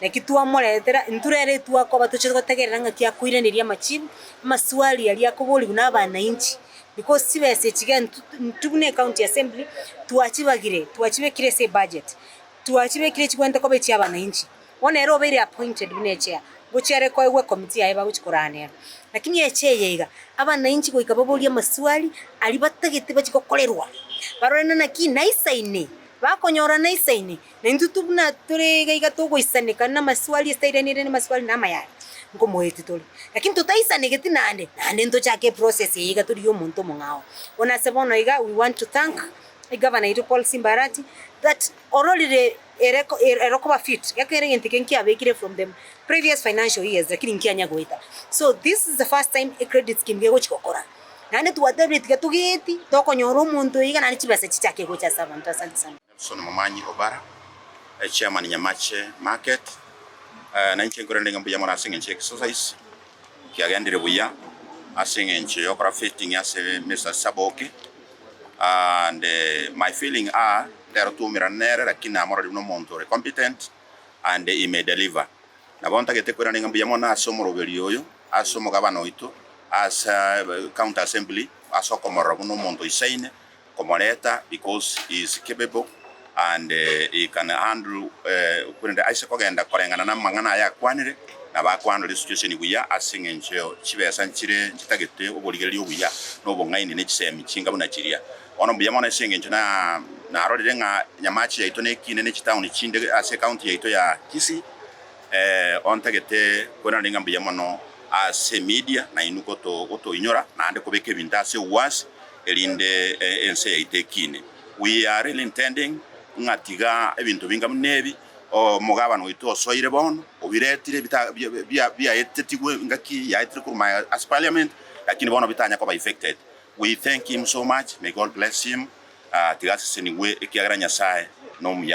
Naki twamoretera, intwe rero etwakoba tochia gotegerera ng'aki akoiraneria amachibu, amaswali aria akoborigwa nabananchi, because chibesa echi iga intwe intwe buna ecounty assembly twachibagire, twachibekire ase ebudget, twachibekire chibwenerete koba echia abananchi. Bono ere obeire appointed buna echair, ngochia ere koegwa ecommittee yaye bagochia korara nere. Lakini echair eye iga, abananchi goika baborie amaswali aria batagete bachie gokorerwa, barore naki naisaine, bakonyora naisaine. Na intwe buna tore iga iga togoisaneka namaswali asitairanire namaswali na amayare, nkomoeti tore. Lakini totaisanegeti naende, naende ntochake eprocess eye iga tori yomonto omong'ao. Bono ase bono iga we want to thank egavana oito Paul Simba Arati that ororire ere ere okoba fit, ekero egento eke nkiabekire from the previous financial years lakini nkianya goeta. So this is the first time ecredit scheme gegochi gokora. Naende twatebire tiga togeeti tokonyora omonto iga naende chibesa chichake gocha ase abanto. Asante sana. Nelson Momanyi Obara, Chairman Nyamache Market, nainche nkorende ng'a mbuya mono ase eng'encho ya exercise kiagendire buya ase eng'encho yokora fitting ase Mister Saboki and my feeling are rero twaumerana nere lakini namororire buna omonto ore competent and he may deliver. Nabo ntagete koirana ng'a mbuya mono ase omoroberio oyo ase omogabane oito ase county assembly ase okomorora buna omonto oisaine komoreta because he is capable and he can handle korende aise kogenda koreng'ana namang'ana aya akwanire nabo akwandoria esituesheni buya aseng'encho chibesa nchire chitagete oborigereria obuya na obong'aini ne chisemi chinga buna chiria. Bono mbuya mono aseng'encho narorire ng'a enyamache yaito nekiine ne chitauni chinde ase ecounty yaito ya Kisii ontagete korenda ning'a mbuya mono ase emedia nainwe gotoinyora naende kobeka ebinto ase ewuasi erinde ense yaito ekiine. We are really intending ng'a tiga ebinto binga buna ebi omogabane oito osoire bono obiretire bita biaetetigwe engaki yaetire korwa ase parliament lakini bono bitanya koba effected. We thank him so much may God bless him tiga asesenigwe ekiagera Nyasae nomuya.